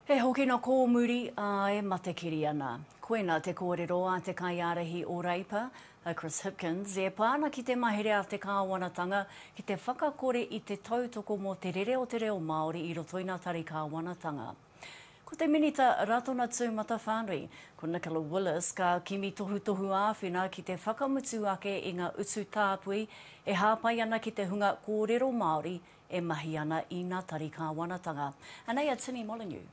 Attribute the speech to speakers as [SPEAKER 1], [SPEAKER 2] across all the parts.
[SPEAKER 1] He hokina kōmuri, ā, e matekiri ana. Koina te kōrero a te kaiārahi o Reipa, a Chris Hipkins, e pā ana ki te mahere a te kāwanatanga ki te whakakore i te tautoko mō te rere o te reo Māori i roto i ngā tari kāwanatanga. Ko te Minita Ratona Tūmatawhānui, ko Nicola Willis, ka kimi tohutohu āwhina ki te whakamutu ake i ngā utu tāpui e hāpai ana ki te hunga kōrero Māori e mahi ana ina tari Kāwanatanga. Anei a Tini Molyneux.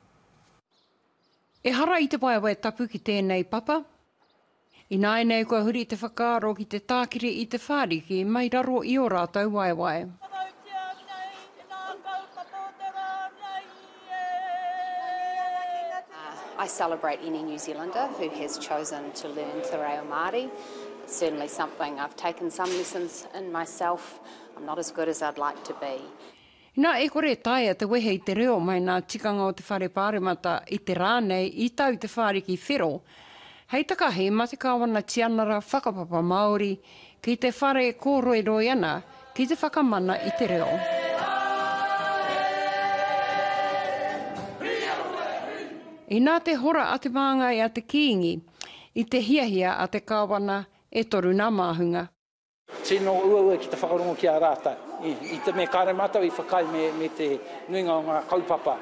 [SPEAKER 2] Ehara i te waewae tapu ki tēnei papa. Ināianei kua huri te whakaaro ki te tākiri i te whāriki mai raro i ō rātou waewae. Whakautia nei i ngā kaupapa o te rā nei.
[SPEAKER 3] I celebrate any New Zealander who has chosen to learn te reo Māori. It's certainly something I've taken some lessons in myself. I'm not as good as I'd like to be. Ina e
[SPEAKER 2] kore e taea te wehe i te reo mai nā tikanga o te Whare Pāremata i te rā nei i tau te whāriki whero, hei takahi ma te Kāwana Tianara Whakapapa Māori Ki te whare kōroiroi ana ki te whakamana i te reo. Inā te hora a te māngai a te Kīngi i te hiahia a te Kāwana e toru nā māhunga. Tino
[SPEAKER 4] uaua ki te whakarongo ki a rātou i te mea kāre mātou i whakaae me te nuinga o ngā kaupapa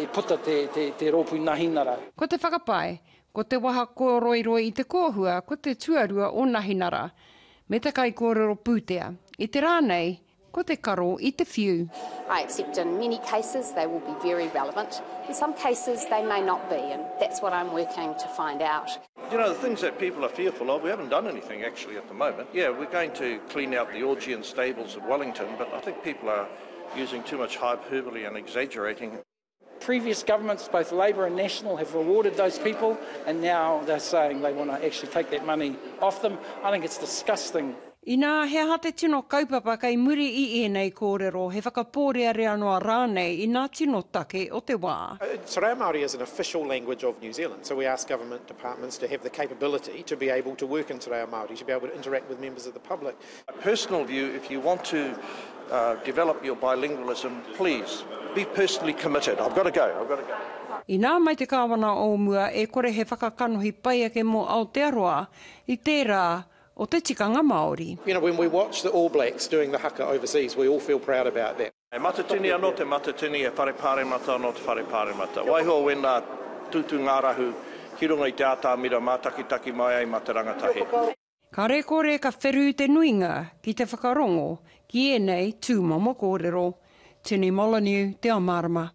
[SPEAKER 4] i puta te Rōpū Nahinara. Ko te whakapae,
[SPEAKER 2] Ko te waha kōroiroi i te kōhua ko te tuarua o Nahinara me te kaikōrero pūtea, i te rā nei ko te karo i te whiu. I accept in
[SPEAKER 3] many cases they will be very relevant, in some cases they may not be and that's what I'm working to find out. You know, the things that
[SPEAKER 5] people are fearful of, we haven't done anything actually at the moment. Yeah, we're going to clean out the Augean stables at Wellington, but I think people are using too much hyperbole and exaggerating. Previous
[SPEAKER 4] governments, both Labour and National, have rewarded those people and now they're saying they want to actually take that money off them. I think it's disgusting. Inā he aha
[SPEAKER 2] te tino kaupapa kei muri i ēnei kōrero, he whakapōrearea noa rānei i nā tino take o te wā? Te reo Māori is an
[SPEAKER 6] official language of New Zealand, so we ask government departments to have the capability to be able to work in te reo Māori, to be able to interact with members of the public My personal view,
[SPEAKER 5] if you want to develop your bilingualism, please, be personally committed. I've got to go, I've got to go. Inā
[SPEAKER 2] mai te Kāwana o mua e kore he whakakanohi pai ake mō Aotearoa i tērā o te tikanga Māori. You know, when we watch the
[SPEAKER 6] All Blacks doing the haka overseas, we all feel proud about that. He matatini anō te
[SPEAKER 5] matatini, he whare pāremata anō te whare pāremata. Waiho wēnā tūtū ngārahu ki runga i te ātamira mātakitaki mai ai mā te rangatahi. Kāre kore
[SPEAKER 2] ka wherū te nuinga ki te whakarongo ki ēnei tūmomo kōrero. Tini Molyneux, Te Ao Mārama.